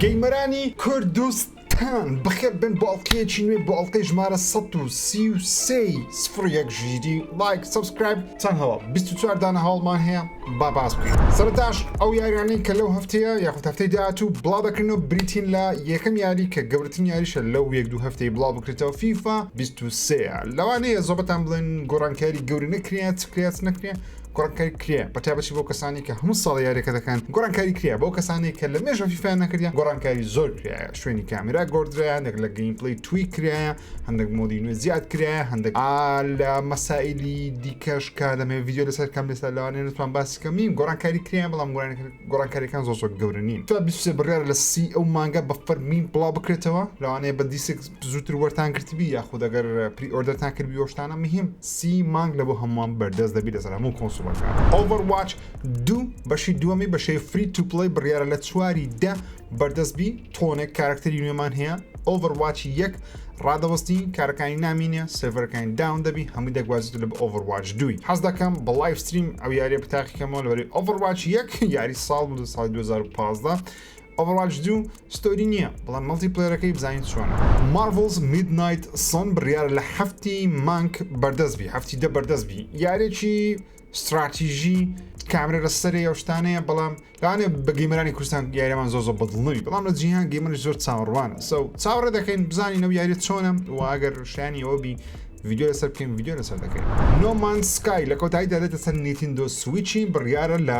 گەیمەرانی کوردستان بەخێر بێن بۆ ئەڵقەیەکی نوێ بۆ ئەڵقەی ژمارە سەد و سی و سێ ی سفر یەک ژیری ڵایک سەبسکرایب چەن هەواڵ بیست و چوار دانە هەواڵمان هەیە با باس بکەین سەرەتاش ئەو یاریانەی کە لەو هەفتەیە یاخود هەفتەی داهاتوو بڵاو دەکرێنەوە بریتین لە یەکەم یاری کە گەورەترین یاریشە لەو یەک دوو هەفتەی بڵاو بکرێتەوە فیفا بیست و سێ ە لەوانەیە زۆربەتان بڵێن گۆڕانکاری گەورە نەکرێ چ کرێ چ نەکرێ گۆڕانکاری کرێ بە تایبەتی بۆ کەسانی کە هەموو ساڵ یاریەکە دەکەن گۆڕانکاری کرێ بۆ کەسانی کە لە مێژە فیفایان نەکردیان گۆڕانکاری زۆر کرایە شوێنی کامرا گۆردرایە هەندێک لە گەیم پلی توی کرایە هەندێک مۆدی نوێ زیاد کرایە هەندێک لە مەسائلی دیکەش کا دەمێ ویددیو لەسەر کەم لەسەر لەوانێ نتوان باسی کەمیم گۆڕانکاری کرایە بەڵام گۆڕانکاریەکان زۆر زۆر گەورە نین تا 23 بڕیار لە سی ئەو مانگە بە فەرمین بڵاو بکرێتەوە لەوانەیە بە دیسێک زووتر وەرتان گرتبی یاخود ئەگەر پری ئۆردەرتان کردبی وەشتانە مهم سی مانگ لە بۆ هەمووان بەردەست دەبی لەسەر هەموو کۆنسوڵەکان ئۆڤەرواچ دوو بەشی دووەمی بەشەی فری تو پڵەی بڕیارە لە چواری دە بەردەست بی تۆنێک کارکتەری نوێمان هەیە ئۆڤەرواچی یەک ڕادەوەستی کارەکانی نامینە سێڤەرەکانی داون دەبی هەمووی دەگوازیت لە ئۆڤەرواچ دووی حەز دەکەم بە لایف ستریم ئەو یاریە بتاقیکەمەوە لەوەری ئۆڤەرواچ یەک یاری ساڵ بوو ساڵی 2015 Overwatch دوو ستۆری نییە بەڵام مەڵتی پلەیەرەکەی بزانین چۆنە. Marvel's Midnight Sun بڕیارە لە هەفتی مانگ بەردەست بی هەفتی دە بەردەست بی یارێکی ستراتیژی کامرە لە سەرێ ئەو شتانەیە بەڵام لەوانێ بە گەیمەرانی کوردستان یاریەمان زۆر زۆر بەدڵ نەوی بەڵام لە جیهان گەیمەری زۆر چاوەڕوانە سەو چاوەڕێ دەکەین بزانین ئەو یاری چۆنە و ئەگەر شانی ئەوە بی ویددیو لەسەر بکەین ویددیو لەسەر دەکەین نۆمان سکای لە کۆتاییدا دێتە سەر نیتیندۆ سویچی بڕیارە لە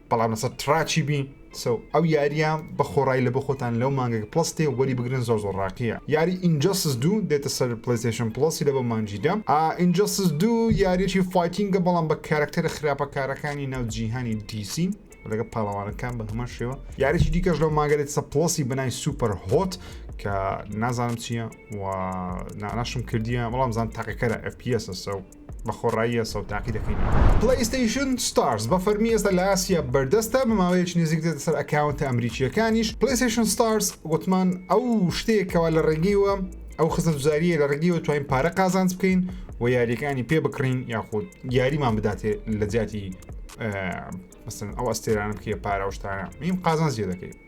بەڵام لەسەر تڕاکی بی سەو ئەو یاریە بە خۆڕای لەبۆ خۆتان لەو مانگەگە پڵەس تێ وەری بگرن زۆر زۆر ڕاقیە یاری ئینجەسس دوو دێتە سەر پلەیستەیشن پڵەسی لەبۆ مانگی دە ئا ئینجەسس دوو یاریەکی فایتینگە بەڵام بە کارەکتەرە خراپەکارەکانی ناو جیهانی دیسی لەگە پاڵەوانەکان بە هەمان شێوە یاریی دیکەش لەو ماگەێت سە پڵەسی بەنای سوپەر هۆت کە نازانم چییە و ناناشم کردیە بەڵام زان تاقیکەرە FPS سە و بە خۆڕایی ئێستا و تاقی دەکەینەوە. پلەیستەیشن ستارز بە فەرمی ئێستا لە ئاسیا بەردەستە بە ماوەیەکی نزیک دێتە سەر ئەکاونتە ئەمریکییەکانیش. پلەیستەیشن ستارز گوتمان ئەو شتەیە کەوا لە ڕێگەیەوە ئەو خزمەتگوزارییە لە ڕێگەیەوە توانین پارە قازانج بکەین و یاریەکانی پێ بکڕین یاخود یاریمان بداتێ لە جیاتی مەسەن ئەو ئەستێرانە بکێ پارە و شتانە میم قازانج لێ دەکەین.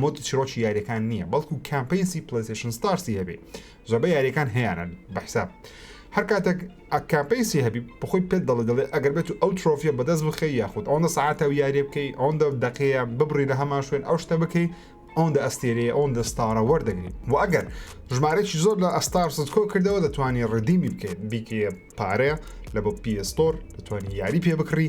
مۆدی چیرۆکی یاریەکان نییە بەڵکو کامپینسی پلەسشن ستارسی هەبێ زۆربە یاریەکان هەیەیانە بەحساب هەر کاتێک ئەکامپینسی هەبی بخۆی پێت دەڵێ دەڵێ ئەگەر بێت و ئەو ترۆفیە بەدەست بخی یاخود ئەوەندە ساعتە و یاریێ بکەی ئەوەندە دەقەیە ببڕی لە هەمان شوێن ئەو شتە بکەی ئەوەندە ئەستێرەیە ئەوەندە ستارە وەردەگری و ئەگەر ژمارەێکی زۆر لە ئەستار سکۆ کردەوە دەتوانانی ڕدیمی بکەیت بیکە پارەیە لە بۆ پستۆر دەتوانانی یاری پێ بکڕی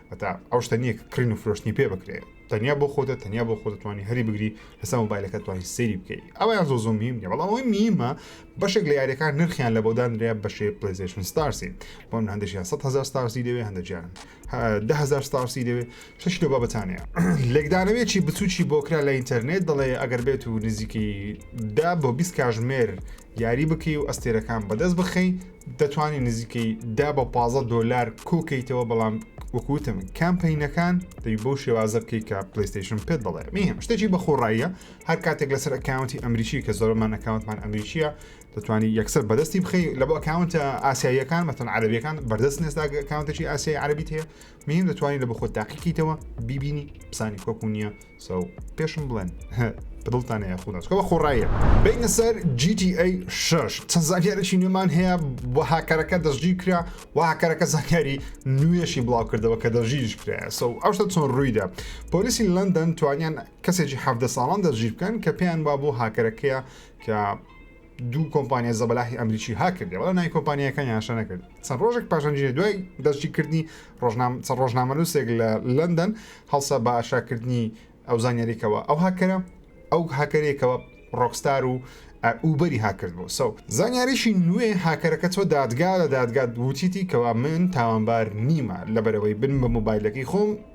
هەتا ئەو شتە نییە کە کڕین و فرۆشتنی پێ بکرێت تەنیا بۆ خۆتە تەنیا بۆ خۆتتوانی هەری بگری لەسەر مۆبایلەکە توانین سری بکەیت ئەویان زۆ زۆ میم نیە بەڵام ئەوەی میمە بەشێک لە یاریەکان نرخیان لە بۆدانرێ بەشێ پلیزیشن ستارسی بۆم هەندێکیان 100 هزار ستارسی دەوێ هەندێکیان دههزار ستارسی دەوێ شش لە بابەتانەیە لێکدانەوێکی بچوکی بۆکرا لە ئینتەرنێت دەڵێ ئەگەر بێت و نزیکی دا بۆ 20 کاژمێر یاری بکەی و ئەستێرەکان بەدەست بخەی دەتوانانی نزیکەی دا بە پازە دۆلار کۆکەیتەوە بەڵام وەکوتم کامپینەکان دەبی بەو شێوازە بکەی کە پلیستیشن پێت بڵێ میم شتێکی بەخۆڕاییە هەر کاتێک لەسەر ئەکاونتی ئەمریکی کە زۆرمان ئەکاونتمان ئەمریکیە دەتوانانی یەکسەر بەدەستی بخی لە بۆ ئەکاونتە ئاسیاییەکان مەتەن عربیەکان بەردەست نێزداگەکانتەکی ئاسیای عربیت هەیە مین دەتوانی لە بخۆت تاقیکەیتەوە بیبینی پسانی کۆکو نییە سەو پێشم بڵێن بدڵتان هەیە خودناسکەوە خۆڕایە بینە سەر GTA 6 چەند زانیارێکی نوێمان هەیە بۆ هاکەرەکە دەستگیر کرا و هاکەرەکە زانیاری نوێشی بڵاو کردەوە کە دەژیرش کرا سەو ئەوشتە چۆن ڕوویدا پۆلیسی لەندەن توانیان کەسێکی حەفدە ساڵان دەژیر بکەن کە پێیان با بۆ هاکەرەکەیە کە دوو کۆمپانیا زەبەلاحی ئەمریکی ها کردی بەڵام نای کۆمپانیەکانی هاشە نەکرد چەند ڕۆژێک پاشەنجینە دوای دەستگی کردنی ڕۆژنام چەند ڕۆژنامەلووسێک لە لەندەن هەڵسا بە ئاشاکردنی ئەو زانیاریکەوە ئەو هاکەرە ئەو هاکەرێکەوە ڕۆکستار و ئوبەری هاکرد بۆ سەو زانیاریشی نوێ هاکەرەکە چۆ دادگا لە دادگات وتیتی کەوا من تاوانبار نیمە لەبەرەوەی بن بە موبایلەکەی خۆم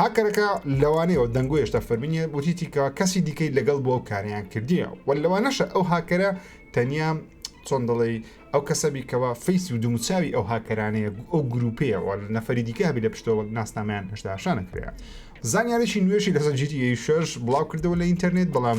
هاککەرەکە لەوانەیەوە دەنگۆی هێشتا فەرمی نییە، وتیتی کە کەسی دیکەی لەگەڵ بووە و کاریان کردیە و لەوانەشە ئەو هاککەرە تەنیا چۆن دەڵێی ئەو کەسە بیکەوە فەیس و دوموچاوی ئەو هاککەرانەیە ئەو گروپەیەوە لە نەفری دیکە هەبی لە پشتەوە ناسنامەیان هێشتا شانەکرێ. زانیاریی نوێشی لەسەر جیتی شش بڵاو کردەوە لە ئینتەرنێت بەڵام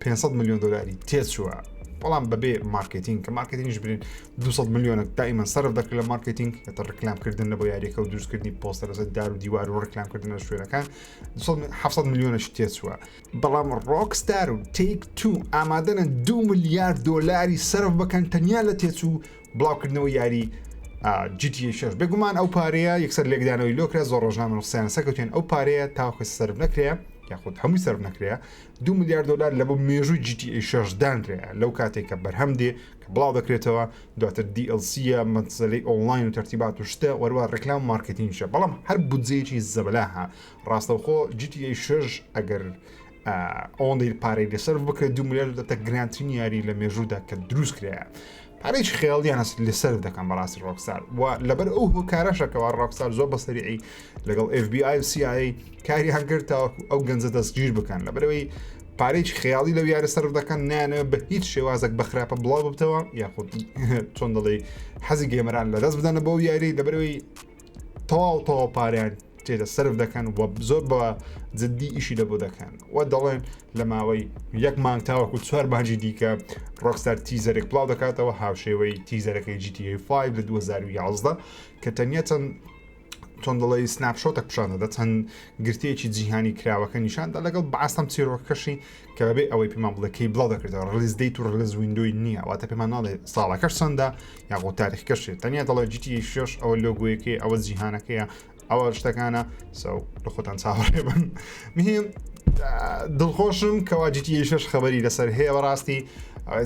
پێنج سەد ملیۆن دۆلاری تێچووە بەڵام بەبێ مارکتینگ کە مارکتینگش برین 200 ملیۆنە دائیمەن سەرف دەکرێت لە مارکتینگ کە ڕکلامکردن لە بۆ یاریەکە و دروستکردنی پۆستەر لەسەر دار و دیوار و ڕکلامکردن لە شوێنەکان 700 ملیۆنەش تێچووە بەڵام ڕۆکستار و تیک تو ئامادەە دو ملیارد دۆلاری سەرف بەکەن تەنیا لە تێچوو بڵاوکردنەوە یاری جیتی شش بێگومان ئەو پارەیە یەکسەر لێکدانەوەی لۆکرا زۆر ڕۆژنامە نووسیان سەکەوتێن ئەو پارەیە تاوکە سەر نەکرێ یاخود هەمووی سەر نەکرێ دوو ملیار دۆلار لە بۆ مێژووی GTA شەش دانرایە لەو کاتێک کە بەرهەم دێ کە بڵاو دەکرێتەوە دواتر DLC یە مەسەلەی ئۆنلاین و تەرتیبات و شتە وەروە ڕێکلام مارکتینگە بەڵام هەر بودجەیەکی زەبەلاحە ڕاستەوخۆ GTA شەش ئەگەر ئەوەندەی پارەی لەسەر بکرێت دو ملیار دەتە گرانترین یاری لە مێژوودا کە دروست کرایە هەر هیچ خێڵیان لە سەر دەکەم بەڕاستی ڕۆکسار و لەبەر ئەو هۆکارەشەکەەوە ڕۆکسار زۆر بە سەریعی لەگەڵ FBI و CIA کاریان کرد تاوەکو ئەو گەنجە دەستگیر بکەن لەبەرەوەی پارێک خیاڵی لەو یارە سەر دەکەن نانە بە هیچ شێوازێک بەخراپە بڵاو ببتەوە یاخود چۆن دەڵێ حەزی گەمەران لە دەست بدەنە بەو یاری دەبەرەوەی تەواو تەواو پاریان تێدە سرف دەکەن و زۆر بە جددی ئیشی لە بۆ دەکەن و دەڵێن لە ماوەی یەک مانگ تاوەکو چوار مانجی دیکە ڕۆکسەر تیزەرێک بڵاو دەکاتەوە هاوشێوەی تیزەرەکەی GTA5 لە 2011 کە تەنیا چەند چۆن دەڵی سناپشۆتە پیششانەدە چەند گرتێکی جیهانی کراوەکە نیشاندا لەگەڵ باسەم چیرۆکەکەشی کە بەبێ ئەوەی پێمان بڵێ کەی بڵاو دەکردەوە ڕلیز دەیت و ڕلز وینندۆی نییە واتە پێمان ناڵێ ساڵەکەش چەندە یاخۆ تاریخکەشێت تەنیا دەڵێ جیتی شش ئەوە لۆگویەکەی ئەوە جیهانەکەیە ئەوە شتەکانە سەو لە خۆتان چاوەڕێ بن مهم دڵخۆشم کەوا جیتی شش خەبەری لەسەر هەیە بەڕاستی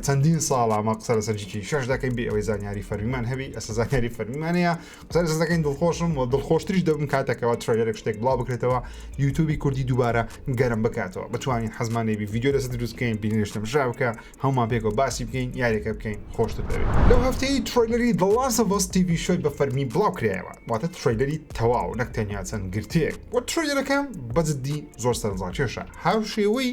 چەندین ساڵە مەقسە لەسەر جیتی شش دەکەین بێ ئەوەی زانیاری فەرمیمان هەبی ئەسە زانیاری فەرمیمانەیە سەر سەدەکەین دڵخۆشم و دڵخۆشتریش دەبم کاتەکەەوە ترێلێک شتێک بڵاو بکرێتەوە یوتوبی کوردی دووبارە گەرم بکاتەوە بتوانین حەزمانێ بڤیددیو لەسە دروستکەین بینێشتم ژا بکە هەومان پێکەوە باسی بکەین یاریەکە بکەین خۆشتر دەوێت لەو هەفتەی ترۆیلری دڵاسە بۆس TV شوی بە فەرمی بڵاو کرایەوە واتە ترۆیلری تەواو نەک تەنیا چەند گرتێک وە ترۆیلەکە بەجددی زۆر سەرنجڕاکێشە هاو شێوەی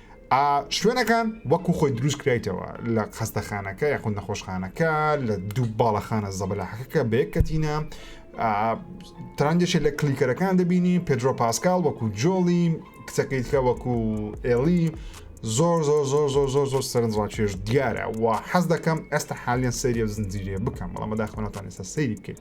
ئا شوێنەکان وەکو خۆی دروست کرایتەوە لە خەستەخانەکە یاخود نەخۆشخانەکە لە دوو باڵەخانە زەبەلاحەکەکە بەیەک کەتینە ترانجێکی لە کلیکەرەکان دەبینی پێدرۆ پاسکال وەکو جۆڵی کچەکەی تکە وەکو ئێڵی زۆر زۆر زۆر زۆر زۆر زۆر سەرنجڕاکێش دیارە و حەز دەکەم ئێستا حالیان سەریە زنجیرێ بکەم بەڵام بەداخۆناتان ئێستا سەیری بکەیت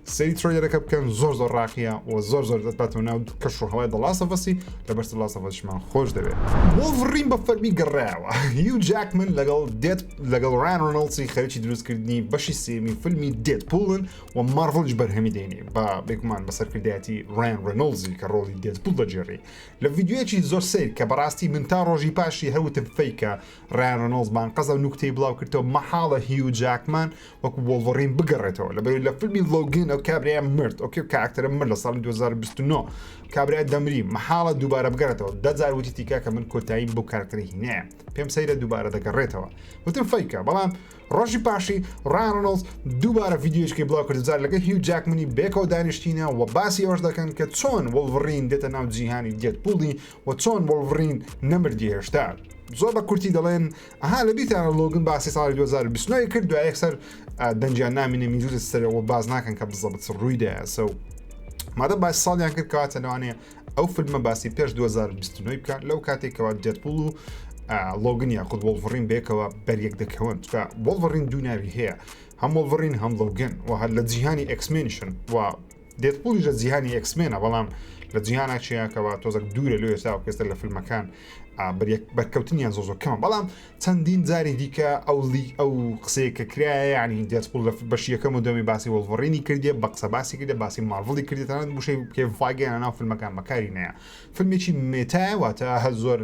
سەیری ترۆیلەرەکە بکەن زۆر زۆر ڕاقیە و زۆر زۆر دەتباتەوە ناو کەش و هەوای دەڵاسەفەسی لە بەرز لاسەفەسیشمان خۆش دەوێت وڵڤڕین بە فەرمی گەڕایەوە هیو جاکمن لەگەڵ دێت لەگەڵ ڕان ڕۆنۆڵسی خەریکی دروستکردنی بەشی سێمی فیلمی دێت پوڵن و ماڕڤڵیش بەرهەمی دێنی بە بێگومان بە سەرکردایەتی ڕان ڕۆنۆڵزی کە ڕۆڵی دێت پوڵ دەگێڕی لە ڤیددیوەکی زۆر سیر کە بەڕاستی من تا ڕۆژی پاشی هەوتم فیکە ڕان ڕۆنۆڵز بانقەزە و نوکتەی بڵاو کردەوە مەحاڵە هیو جاکمان وەکو وۆڵڤەڕین بگەڕێتەوە لەبەر لە فیلمی لۆگین ئەو کابرایە مرد ئۆکێ کاراکتەرە مرد لە ساڵی 2029 کابرای دەمری مەحاڵە دووبارە بگەڕێتەوە دەجار وتی تیکا کە من کۆتاییم بۆ کارکتەری هینەیە پێم سەیرە دووبارە دەگەڕێتەوە وتم فیکە بەڵام ڕۆژی پاشی ڕانۆز دووبارە ڤیددیوشکی بڵاو کردزار لەگە هی و جاکمنی بێکەوە دانیشتینە و باسی ئەوش دەکەن کە چۆن وڵڤڕین دێتە ناو جیهانی دێت پوڵی و چۆن وڵڤڕین نەمردی هێشتا زۆر بە کورتی دەڵێن ئەها لە بیرتانە لۆگن باسی ساڵی 2029 کرد دوای یەکسەر دەنجیان نامینە میلوت سەرەوە باز ناکەن کە بزەبت ڕووی دایسە و مادە باسی ساڵیان کرد کەواتە لەوانەیە ئەو فیلمە باسی پێش 2029 بکە لەو کاتێکەوە دێتپول و لۆگن یاخود وڵڤڕین بێکەوە بەریەک دەکەون چکە وڵڤڕین دوو ناوی هەیە هەم وڵڤڕین هەم لۆگن و هەر لە جیهانی ئەکسمێنشن و دێدپوڵیش لە جیهانی ئێکس مێنە بەڵام لە جیهانا چیاکەوە تۆزەک دوورە لۆ ئێستا پێستە لە فلمەکان بەرکەوتنیان زۆ زۆ کەمە بەڵام چەندین جاری دیکە ئەو لی ئەو قسەیە کە کرایە ینی دێدپوڵ لە بەشی یەکەم و دەمی باسی وەڵڤڕینی کردێ بە قسە باسی کردێ باسی ماڤڵی کردێتان بشەی پێ فاگەیان ناو فلمەکان بەکاری نەیە فلمێکی مێتایە واتە هە زۆر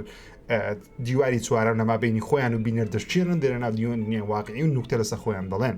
دیواری چوارەم لەما بینی خۆیان و بینەر دەشتێنن دێنە ناو دیۆن نیە واقعی و نوکتە لەسە خۆیان دەڵێن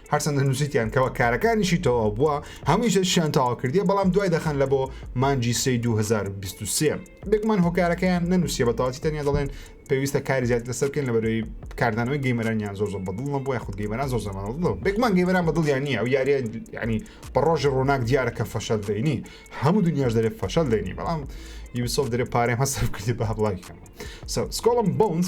هەرچەندە نووسیتیان کەوا کارەکانیشی تەواو بووە هەمووی شتشیان تەواو کردیە بەڵام دوای دەخەن لە بۆ مانجی سی 2023 بێکمان هۆکارەکەیان نەنووسە بە تەواتی تەنیا دەڵێن پێویستە کاری زیات لەسەر بکەن لە بەرەوەی کاردانەوەی گەیمەرانیان زۆر زۆر بەدڵ نەبووە خود گەیمەران زۆر زەمان بڵ بێکمان گەیمەران بەدڵیان نیە ئەو یاریە ینی بە ڕۆژی ڕووناک دیارە کە فەشەل دەینی هەموو دنیاش دەرێت فەشەل دەینی بەڵام یوسۆف دەرێ پارێ هەسەر کردی بە هەبڵایکەم سکۆڵم بونز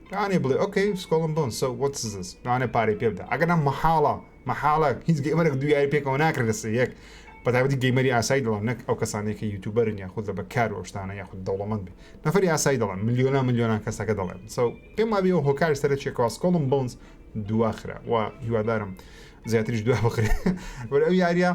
لەوانەیە بڵێ ئۆکەی سکۆڵم بۆن سۆ واتس زس لەوانەیە پارەی پێ بدە ئەگەرنا مەحاڵە مەحاڵە هیچ گەیمەرێک دوو یاری پێکەوە ناکرێت لە سێ یەک بەتایبەتی گەیمەری ئاسایی دەڵێم نەک ئەو کەسانەی کە یوتیوبەرن یاخود لە بەکار و ئەو شتانە یاخود دەوڵەمەند بێ نەفەری ئاسایی دەڵێم ملیۆنا ملیۆنان کەسەکە دەڵێن سو پێم وابێ ئەو هۆکاری سەرەکیەکەوە سکۆڵم بۆنز دواخرا و هیوادارم زیاتریش دوا بخرێت وەرە ئەو یاریە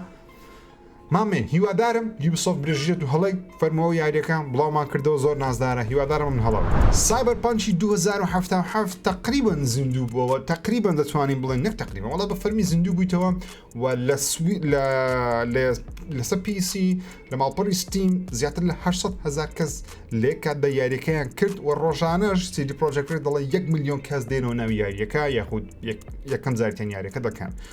مامین هیوادارم یوبیسۆفت برێژیرە دوو هەڵەی فەرمووە و یاریەکە بڵاومان کردەوە زۆر نازدارە هیوادارم ئەم هەڵە بکات. سایبەرپانکی دوو هەزار و حەفتا و حەفت تەقریبەن زیندوو بووەوە تەقریبەن دەتوانین بڵێین نەک تەقریبەن وەڵا بە فەرمی زیندوو بوویتەوە و لە سوی لە لە لەسە پیسی لە ماڵپەڕی ستیم زیاتر لە هەشت سەد هەزار کەس لێک کات بە یاریەکەیان کرد و ڕۆژانەش سی دی پرۆجەکت دەڵێ یەک ملیۆن کەس دێنەوە ناو یاریەکە یاخود یەکەم جارتیان یاریەکە دەکەن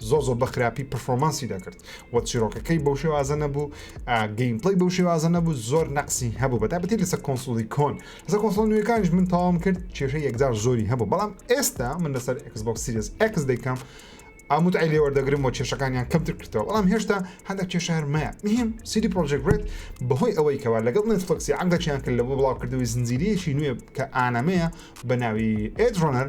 زۆر زۆر بەخراپی پرفۆمانسی دەکرد و چیرۆکەکەی بەو شێوازە نەبوو گەیمپڵی بەو شێوازە نەبوو زۆر نەقسی هەبوو بە تابەتی لەسەر کۆنسولی کۆن لەسەر کۆنسۆل نوێەکانش من تاوام کرد کێشە یەکجار زۆری هەبوو بەڵام ئێستا من لەسەر ئەکسبک سیریس ئەکس دەیکەم ئاموت ئەلی وەردەگرم و کێشەکانیان کەمتر کردەوە بەڵام هێشتا هەندێک کێشارمەیە مهم سیدی پرۆژێکرێت بەهۆی ئەوەی کەوا لەگەڵ نێتفلکسی عقدەچیان کرد لە بۆ بڵاوکردنەوەی زنجیرەیەکی نوێ کە ئانەمەیە بە ناوی ئێدرۆنەر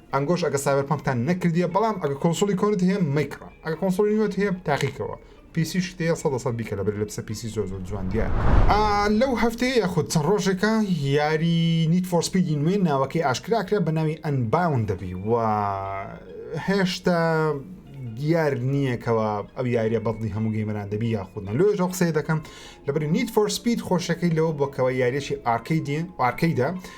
ئەنگۆش ئەگە سایبەرپەنکتان نەکردیە بەڵام ئەگە کۆنسوڵی کۆنت هەیە مەیکڕە ئەگە کۆنسوڵی نوێت هەیە تاقیکەوە پیسی شتەیە سەد لە سەد بیکە لەبەر لە پسە پیسی زۆر زۆر جوان دیارە ئا لەو هەفتەیە یاخود چەند ڕۆژێکە یاری نیت فۆر سپیدی نوێ ناوەکەی ئاشکرا کرا بە ناوی ئەنباون دەبی و هێشتا دیار نییە کەەوە ئەو یاریە بەڵی هەموو گەیمەران دەبی یاخود نە لۆێژ قسەی دەکەم لەبری نیت فۆر سپید خۆشەکەی لەوە بۆکەوە یاریێکی ئارکەی دێن ئارکەیدا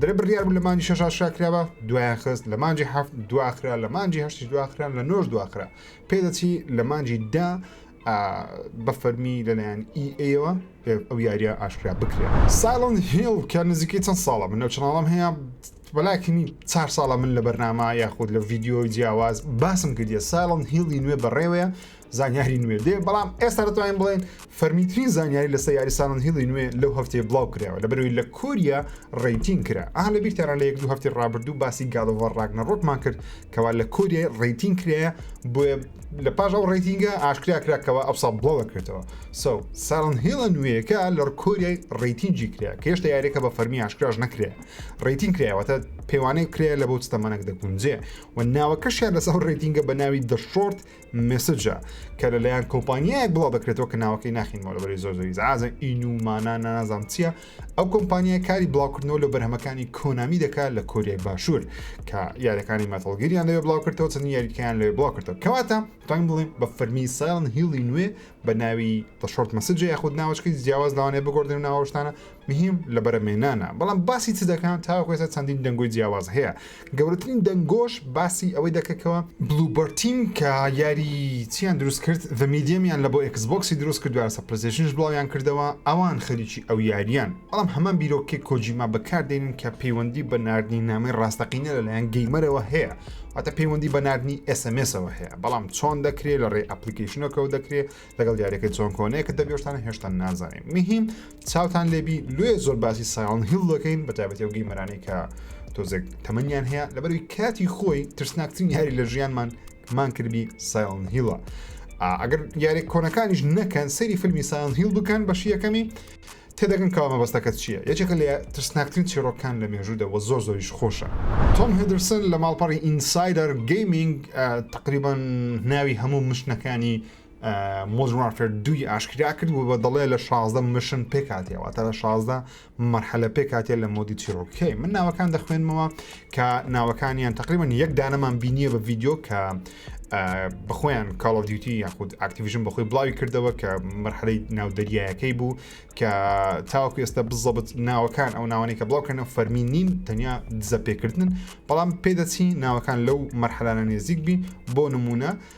دەرێ بڕیار بوو لە مانجی شەش ئاشکرا کراوە دوایان خست لە مانجی هەفت دواخرا لە مانجی هەشتش دواخران لە نۆش دواخرا پێدەچی لە مانجی دا بە فەرمی لەلایەن ئی ئەوە ئەو یاریە ئاشکرا بکرێت ساڵند هێڵ کە نزیکەی چەند ساڵە من نەو چناڵم هەیە بەلاکەنی چار ساڵە من لە بەرنامە یاخود لە ڤیددیۆی جیاواز باسم کردە ساڵند هێڵی نوێ بەڕێوەیە زانیاری نوێ دێ بەڵام ئێستا دەتوانین بڵێن فەرمیترین زانیاری لەسەر یاری ساڵن هیڵی نوێ لەو هەفتەیە بڵاو کرایەوە لە بەرەوەی لە کۆریا ڕیتین کرا ئا لە بیرتانە لە یەک دوو هەفتی ڕابردوو باسی گاڵۆڤە ڕاگنە ڕۆکمان کرد کەوا لە کۆریای ڕیتین کرایە بۆیە لە پاش ئەو ڕیتینگە ئاشکرا کرا کەەوە ئەوسا بڵاو دەکرێتەوە سو ساڵن هێڵە نوێیەکە لە کۆریای ڕیتینجی کرا کە هێشتا یارێکە بە فەرمی ئاشکراش نەکرێ ڕیتین کرایەوەتە پێوانەی کرێ لە بۆ ستەمەەک دەگونجێ و ناوەکەشیان لەسەر ڕێتینگە بە ناوی دەشۆرت مێسجە کە لە لایەن کۆمپانیایەک بڵاو دەکرێتەوە کە ناوەکەی ناخینەوە لەبەری زۆر زۆری زعازە ئین و مانا نازام چییە ئەو کۆمپانیای کاری بڵاوکردنەوە لە بەرهەمەکانی کۆنامی دەکات لە کۆریای باشوور کە یاریەکانی مەتەڵگیریان لەوێ بڵاوکردەوە چەند یاریکەیان لەوێ بڵاوکردەوە کەواتە ڕنگ بڵێن بە فەرمی سایڵن هیڵی نوێ بە ناوی تەشۆرت مەسجە یاخود ناوەچکەی جیاواز لەوانێ بگۆردن و ناوەشتانە مهیم لە بەرەمێنانە بەڵام باسی چ دەکەن تاوەکو ئێستا چەندین دەنگۆی جیاواز هەیە گەورەترین دەنگۆش باسی ئەوەی دەکەکەوە بلوبەرتیم کە یاری چیان دروست کرد ذە میدیەمیان لە بۆ ئێکس بۆکسی دروست کرد دوارسە پلەیستەیشنش بڵاویان کردەوە ئەوان خەریکی ئەو یاریان بەڵام هەمان بیرۆکەی کۆجیما بەکاردێنن کە پەیوەندی بە ناردنی نامەی ڕاستەقینە لەلایەن گەیمەرەوە هەیە واتە پەیوەندی بە ناردنی ئێس ئێم ئێسەوە هەیە بەڵام چۆن دەکرێت لە ڕێی ئەپلیکەیشنەکەوە دەکرێت لەگەڵ دیارەکەی چۆن کۆنەیە کە دەبیۆشتان هێشتا نازانین مهم چاوتان لێبی لێ زۆر باسی سایڵن هیل دەکەین بە تابەتی ئەو گەیمەرانی کە تۆزێک تەمەنیان هەیە لەبەروی کاتی خۆی ترسناکترین یاری لە ژیانمان مان کردبی سایڵن هیڵە ئەگەر یاری کۆنەکانیش نەکەن سەیری فیلمی سایڵن هیل بکەن بەشی یەکەمی تێدەگەن کاوە مەبەستەکە چییە یەکێکە لە ترسناکترین چیرۆکان لە مێژوودەوە زۆر زۆریش خۆشە تۆم هدرسن لە ماڵپەڕی ئینسایدەر گەیمنگ تقریبان ناوی هەموو مشتەکانی مۆدرن وارفێر دووی ئاشکرا کرد و بە دەڵێ لە شازدە مشن پێکاتیەوە تا لە شازدە مەرحەلە پێکاتە لە مۆدی چیرۆکەکەی من ناوەکان دەخوێنمەوە کە ناوەکانیان تقریبان یەک دانەمان بینیە بە ڤیددیو کە بخۆیان کاڵۆڤیوتی یاخود ئاکتیویژن بەخۆی بڵاوی کردەوە کە مەرحەی ناو دەریایەکەی بوو کە تاوەکو ئێستا بزەبت ناوەکان ئەو ناوانێکە بڵاوکەنە فەرمی نین تەنیا دزە پێکردن بەڵام پێدەچی ناوەکان لەو مەرحەلانە نێزیک بی بۆ نمونە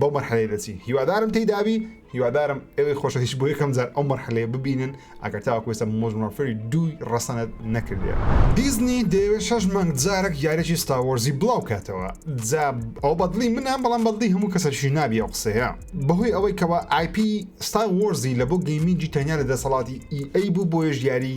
بەو مەرحەلەیە دەچین هیوادارم تێیدا بی هیوادارم ئەوی خۆشەویست بۆ یەکەم جار ئەو مەرحەلەیە ببینن ئەگەر تاوەکو ئێستا مۆژن وارفێری دووی ڕەسەنت نەکردێ دیزنی دەیەوێت شەش مانگ جارێک یاریی ستار وۆرزی بڵاو کاتەوە جا ئەو بەدڵی منە بەڵام بەدڵی هەموو کەسەکیش نابی ئەو قسەیە بەهۆی ئەوەی کەەوە ئایپی ستار وۆرزی لە بۆ گەیمینگی تەنیا لە دەسەڵاتی ئی ئەی بوو بۆیەش یاری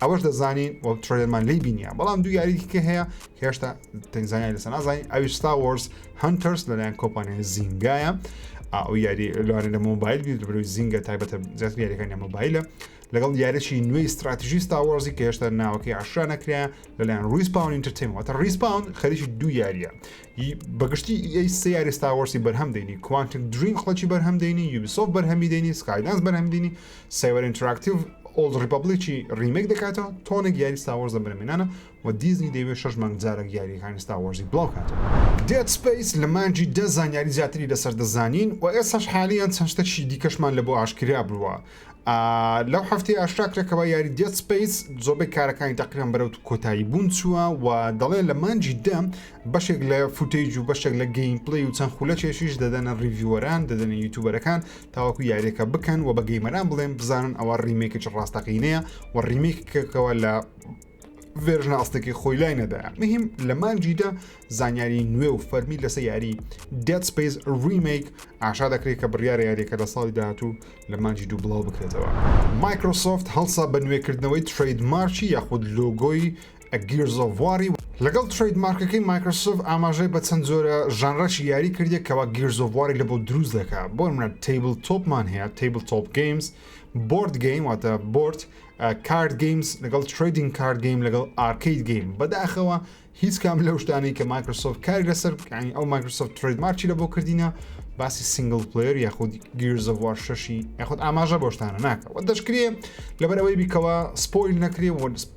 ئەوەش دەزانین و ترۆلێرمان لی بینە بەڵام دوو یاری دیکە هەیە هێشتا تەنزانانی لەسەر نازانین ئەوی ستا وەرز هەنتەرس لەلایەن کۆپانیای زینگایە ئەو یاری لەوانە لە مۆبایل بیر بروی زینگە تایبەتە زیاتر یاریەکانی مۆبایلە لەگەڵ یاریی نوێی استراتژی ستاوەڕزی کە هێشتا ناوەکەی عشرا نەکرێن لەلایەن ریسپاون ئینتەرتەیمەتە ریسپاون خەریکی دوو یاریە بەگشتی ئەی سێ یاری ستاوەرسی بەرهەم دەینی کوانتک دریم خڵکی بەرهەم دەینی یوبیسۆف بەرهەمی دەینی سکایدانس بەرهەم دینی سایبەر ئینتراکتیڤ ئۆڵد ڕیپەبڵیکی ڕیمەیک دەکاتەوە، تۆنێک یاری ستار وۆرز لەم بنەمینانە، و دیزنی دەیەوێت شەش مانگ جارێک یارییەکانی ستار وۆرزی بڵاوکاتەوە. دێد سپەیس لە مانگی دە زانیاری زیاتری لەسەر دەزانین، و ئێستاش حالیەن چەند شتێکی دیکەشمان لەبۆ ئاشکرا بووە. لەو هەفتەیە ئاشکرا کرا کەوا یاری دێد سپەیس زۆربەی کارەکانی تەقریبەن بەرەو کۆتایی بوون چووە، و دەڵێن لە مانگی دە بەشێک لە فوتەیج و بەشێک لە گەیمپلەی و چەند خولەکێکیش دەدەنە ڕیڤیوەران، دەدەنە یوتوبەرەکان، تاوەکو یاریەکە بکەن و بە گەیمەران بڵێن بزانن ئەوە ڕیمێکچ ڕاستەقینەیە و ڕیمێکەکەەوە لە ڤێژنە ئەستێکی خۆی لای نەدایە مهم لە مانجیدا زانیاری نوێ و فەرمی لەسە یاری دێت سپیس ریمیک ئاشا دەکرێت کە بڕیارە یاریەکە لە ساڵی داهاتوو لە مانجی دوو بڵاو بکرێتەوە مایکرۆسۆفت هەڵسا بە نوێکردنەوەی ترید مارچی یاخود لۆگۆی ە گیرز ئۆف واری لەگەڵ ترەید مارکەکەی مایکرسۆف ئاماژەی بە چەند جۆرە ژانرەکی یاری کردیە کەوا گیرز ئۆف واری لەبۆ دروست دەکا بۆ نمونە تەیبل تۆپ مان هەیە تەیبل تۆپ گەیمز بۆرد گەیم واتە بۆرد کارد گەیمز لەگەڵ ترەیدینگ کارد گەیم لەگەڵ ئارکەید گەیم بەداخەوە هیچ کام لەو شتانەی کە مایکرسۆف کاری لەسەر بکانی ئەو مایکرسۆف ترەید مارکی لە بۆ کردینە باسی سنگل پلیر یاخود گیرزەوار شەشی یاخود ئاماژە بۆشتانە ناکە و دەشکرێ لەبەرەوەی بیکەوە سپۆیل نەکرێ و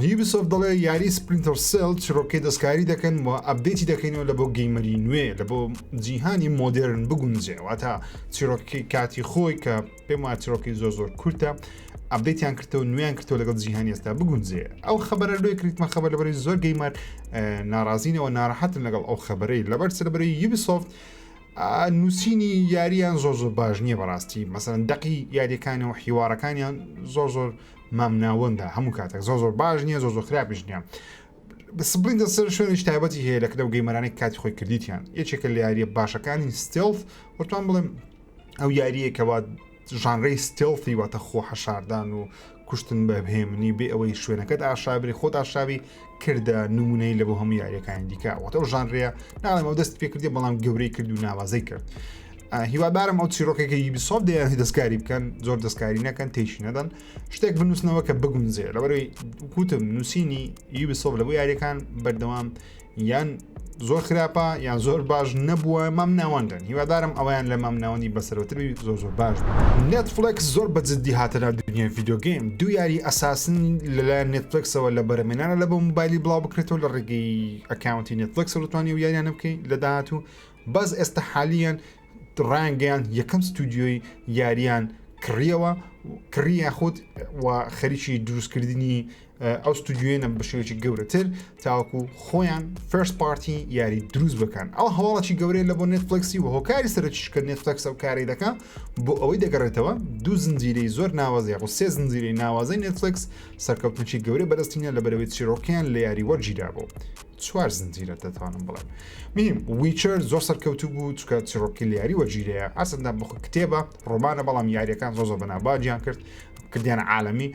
یوبیسۆفت دەڵێ یاری سپلینتەر سێڵ چیڕۆکەی دەستکاری دەکەن و ئەبدەیتی دەکەینەوە لە بۆ گەیمەری نوێ لە بۆ جیهانی مۆدێرن بگونجێ واتە چیرۆکی کاتی خۆی کە پێم وا چیرۆکی زۆر زۆر کورتە ئەبدەیتیان کردەوە نوێیان کردەوە لەگەڵ جیهانی ئێستا بگونجێ ئەو خبرە لێ کریتمە خبر لەبەری زۆر گەیمەر ناڕازینەوە ناڕەحەتن لەگەڵ ئەو خبرەی لەبەر سەربەری یوبیسۆفت نووسینی یاریان زۆر زۆر باش نییە بەڕاستی مەسەن دەقی یاریەکانەوە حیوارەکانیان زۆر زۆر مام ناوەندە هەموو کاتێک زۆر زۆر باش نییە زۆر زۆر خراپش نیە سپلین دەسەر شوێنش تایبەتی هەیە لە کردە و گەیمەرانێک کاتی خۆی کردیتیان یەکێکە لە یاریە باشەکانی ستێڵف وەتوان بڵێم ئەو یاریە کەوا ژانرەی ستێڵفی واتە خۆ حەشاردان و کوشتن بە بهێمنی بێ ئەوەی شوێنەکەت ئاشابری خۆت ئاشاوی کردە نمونەی لە بۆ هەموو یاریەکانی دیکە وەتە ئەو ژانرەیە ناڵێمە دەست پێ کردی بەڵام گەورەی کرد و ناوازەی کرد. هیوادارم ئەو چیرۆکێکی یبیسۆف دەیان دەستکاری بکەن زۆر دەستکاری نەکەن تێشی نەدەن شتێک بنووسنەوە کە بگونجێ لەبەروی کوتم نووسینی یبیسۆف لە بۆ یاریەکان بەردەوام یان زۆر خراپە یان زۆر باش نەبووە مام ناوەندن هیوادارم ئەویان لە مام ناوەندی بەسەرەوەتر زۆر زۆر باش نێتفلکس زۆر بە جددی هاتەنا دنیای ڤیددیوگەیم دوو یاری ئەساسن لەلایەن نێتفلکسەوە لە بەرەمێنانە لە بۆ موبایلی بڵاو بکرێتەوە لە ڕێگەی ئەکاونتی نێتفلکس ڕوتوانی و یاریانە بکەین لە داهات و بەس ئێستا حالیان ڕایانگەیاند یەکەم ستودیۆی یارییان کڕیەوە کڕی یاخود و خەریکی دروستکردنی ئەو ستودیوێنە بەشێکی گەورەتر تاوەکو خۆیان فرس پارتی یاری دروست بکەن ئەو هەواڵکی گەورەیە لە بۆ نێتفلکسی و هۆکاری سەرچش کە نێتفلکس ئەو کاری دەکە بۆ ئەوەی دەگەڕێتەوە دوو زنجیرەی زۆر ناوازی خۆ سێ زنجیرەی ناوازەی نێتفلکس سەرکەوتنشی گەورە بەرزتینە لە بەرەوەی چیرۆکیان لە یاری وەرگیرابوو چوار زنجیرە دەتوانم بڵێم میم ویچەر زۆر سەرکەوتو بوو چکە چڕۆکی یاری وەگیرەیە ئاسندا بخ کتێبە ڕۆمانە بەڵام یاریەکان زۆ زۆ بەناباجیان کرد کردیان عاالمی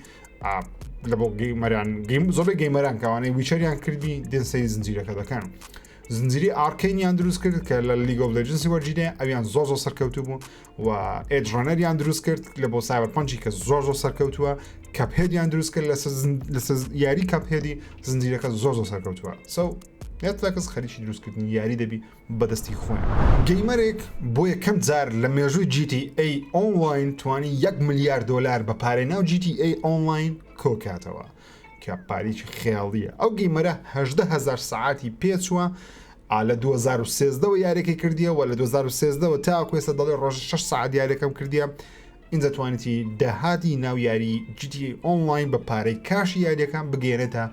لە بۆ گەیمەران گەیم زۆبێ گەیمەران کەوانەی ویچەریان کردی دێنسەی زنجیرەکە دەکەن زنجری ئارکەینیان دروست کرد کە لە لیگۆ لەجنسی وەرجینێ ئەویان زۆ زۆ سەرکەوتو بوو و ئێج ڕەنەریان دروست کرد لە بۆ سایبەر پەنجی کە زۆر زۆر سەرکەوتووە کەپێدیان دروست کرد لە یاری کەپێدی زنجیرەکە زۆر زۆر سەرکەوتووە سو نێتفلکس خەریکی دروستکردنی یاری دەبی بەدەستی خۆیان گەیمەرێک بۆ یەکەم جار لە مێژووی جیتی ئەی ئۆنلاین توانی 1 ملیار دلار بە پارەی ناو جیتی ئەی ئۆنلاین کۆکاتەوە کە پارەیەکی خەیاڵییە ئەو گەیمەرە هەژدە هەزار سەعاتی پێچووە ئا لە دوو هەزار و سێزدە وە یارێکی کردیە وە لە دوو هەزار و سێزدە وە تاکو ئێستا دەڵێ ڕۆژی شەش سەعات یارێکم کردیە ئینجا توانیتی داهاتی ناو یاری جیتی ئۆنلاین بە پارەی کاشی یاریەکان بگەێنێتە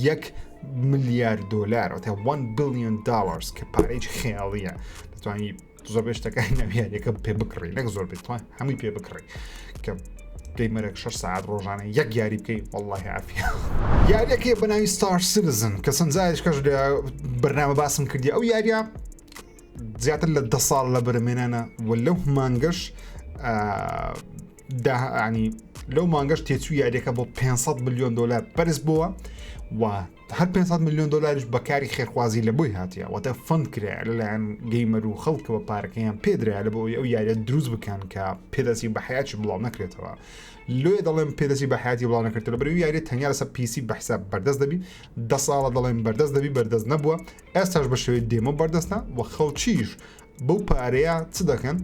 یەک ملیار دۆلار وتە 1 بلیۆن داڵرز کە پارەیەکی خەیاڵییە دەتوانانی زۆر بێشتەکانی ناویارەکە پێ بکڕی نەک زۆر بێت توان هەمووی پێ بکڕی کە دەی مەرەک 6 ساعت ڕۆژانە یەک یاری بکەی والله عافی یاریەکەی بەناوی ستار سیزن کە سنجایش کەش لە بەرنامە باسم کردی ئەو یاریە زیاتر لە ده ساڵ لە بەرمێنانە و لەو مانگەش داهانی لەو مانگەش تێچوو یاریەکە بۆ 500 میلیۆن دلار پرس بووە و هەر پێنج سەد ملیۆن دۆلاریش بە کاری خێرخوازی لە بۆی هاتیە واتە فەند کرایە لەلایەن گەیمەر و خەڵکەوە پارەکەیان پێدرایە لە بۆ ئەوی ئەو یاریە دروست بکەن کە پێدەسی بە حیاتی بڵاو نەکرێتەوە لێ دەڵێم پێدەسی بە حیاتی بڵاو نەکرێتەوە بەرەو یاریە تەنیا لەسەر پیسی بە حساب بەردەست دەبی دە ساڵە دەڵێم بەردەست دەبی بەردەست نەبووە ئێستاش بە شێوەی دێمە بەردەستە و خەڵکیش بەو پارەیە چ دەکەن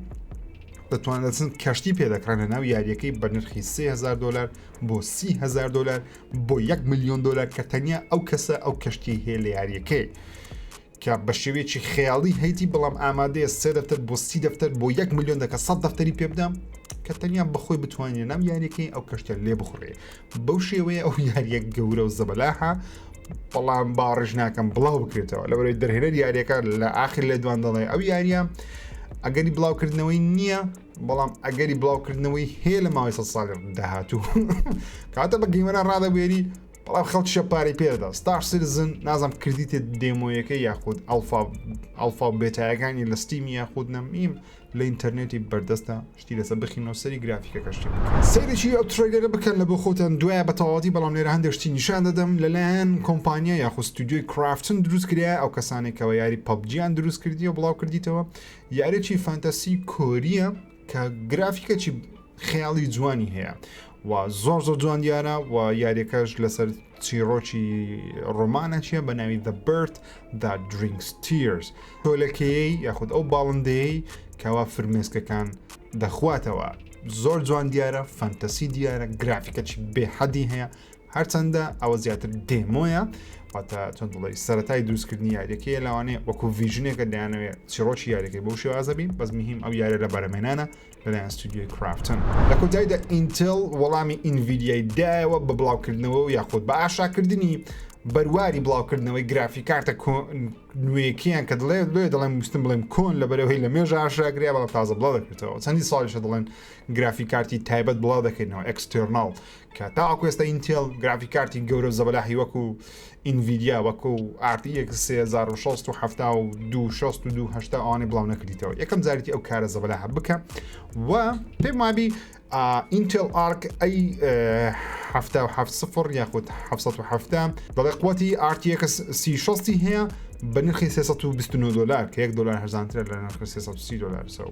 دەتوانێتن کەشتی پێدەکرانە ناو یاریەکەی بە نرخی 3000 دلار بۆ 300 دلار بۆ یەک ملیۆن دلار کە تەنیا ئەو کەسە ئەو کەشتی هەیە لە یاریەکەی کە بە شێوەیەکی خەیاڵی هەیتی بەڵام ئامادەیە سێ دەفتەر بۆ سی دەفتەر بۆ یەک ملیۆن دەکە سە دەفتەری پێ بدەم کە تەنیا بەخۆی بتوانێت ناو یاریەکەی ئەو کەشتە لێ بخڕێ بەو شێوەیە ئەو یاریەک گەورە و زەبەلاحە بەڵام باڕژ ناکەم بڵاو بکرێتەوە لەوەی دەرهێنەر یاریەکە لە ئاخر لێ دوان دەڵێ ئەو یاریە ئەگەری بڵاوکردنەوەی نییە بەڵام ئەگەری بڵاوکردنەوەی هەیە لە ماوەی سە ساڵ داهاتوو کاتە بە گەیمەرە ڕادەبێری بەڵام خەڵکیشە پارەی پێدا ستاش سرزن نازم کردیتێت دێمۆیەکە یاخود ئەلفا ئەلفا بێتایەکانی لە ستیمی یاخود نەمیم لە ئینتەرنێتی بەردەستە شتی لەسە بخینەوە سەری گرافیکە کەشتی سەیرێکی ئەو ترێلەرە بکەن لە بۆ خۆتان دوایە بە تەواتی بەڵام لێرە هەندێشتی نیشان دەدەم لەلایەن کۆمپانیا یاخود ستودیۆی کرافتن دروست کرا ئەو کەسانێکەوە یاری پەبجییان دروست کردی و بڵاو کردیتەوە یاریەکی فانتەسی کۆریە کە گرافیکەکی خەیاڵی جوانی هەیە و زۆر زۆر جوان دیارە و یاریەکەش لەسەر چیڕۆکی ڕۆمانە چیە بە ناوی The Bird that Drinks Tears تۆلەکەیەی یاخود ئەو باڵندەیەی کەوا فرمێسکەکان دەخواتەوە زۆر جوان دیارە فانتەسی دیارە گرافیکەکی بێحەدی هەیە هەرچەندە ئەوە زیاتر دێمۆیە واتە چەند دڵی سەتای دروستکردنی یاریەکەیە لەوانەیە وەکو ڤژنێکە دەیانەوێت چیڕۆکی یاریەکەی بۆ شێوازە بین بەس مهم ئەو یارە لە بەرەمێنانە لەلایەن ستودیۆی کرافتن لە کۆتاییدا ئینتل وەڵامی ئینڤیدیای دایەوە بە بڵاوکردنەوە و یاخود بە ئاشاکردنی بەرواری بڵاوکردنەوەی گرافی کارتە نوێکیان کە دڵێ لێ دەڵێن وستم بڵێم کۆن لە بەرەوەی لە مێژە ئاشاگریا بەڵام تازە بڵاو دەکرێتەوە چەندی ساڵیشە دڵێن گرافی کارتی تایبەت بڵاو دەکەینەوە ئەکسستێرناڵ کە تاوەکو ئێستا ئینتێڵ گرافیک کارتی گەورە و زەبەلاحی وەکو ئینڤیدیا وەکو RTX 3672 ئەوانەی بڵاو نەکردیتەوە یەکەم جارێتی ئەو کارە زەبەلاحە بکە و پێم وابی ئینتێل ئارک ئەی سفر یاخود 1970 دەڵێ قوتی RTX 36 هەیە بە نرخی 329 دلار کە 1 دلار هەزانترە لە نرخ 330 دلار سەو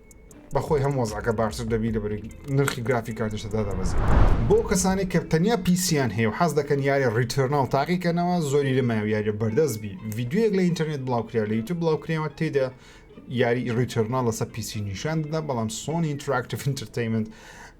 بەخۆی هەم وەزعەکە باشتر دەبی لە بەرگ نرخی گرافی کاتیش دادا بەزی بۆ کەسانی کە تەنیا پیسیان هەیە و حەز دەکەن یاری ڕیتەرناڵ تاقیکەنەوە زۆری لە مایو یاریە بەردەست بی یددیوەک لە ئینتەرنێت بڵاوکریا لە یوتوب بڵاوکرێەوە تێدا یاری ڕیتەرناڵ لەسەر پیسی نیشان دەدا بەڵام سۆنی ئینتراکتف ئینتەرتەیمنت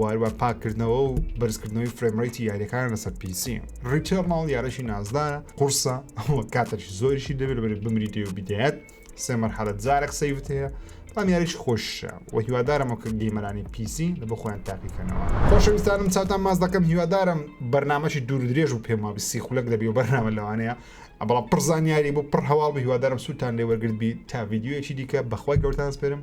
واروا پاکردنەوە و بەرزکردنەوەی فرێمڕیتی یاریەکان لەسەر پیسی ڕیتێرناڵ یارەشی نازدارە قورسە ئەوە کاتەشی زۆریشی دەبێت بەری بمری دێ و بدەیەت سێ مەرحەلت زارە قسەیوت هەیە بەڵام یاریش خۆشە و هیوادارمەوە کە گەیمەرانی پیسی لە بۆ خۆیان تاقیکەنەوە خۆشەویستانم چاوتان ماز دەکەم هیوادارم بەرنمەشی دوور درێژ و پێم وابی سی خولەک دەبی و بەرنامە لەوانەیە ئەبڵە پرزانیاری بۆ پڕ هەواڵ بە هیوادارم سووتان لێ وەرگرت بی تا یددیوەکی دیکە بەخوای گەورتان سپێرم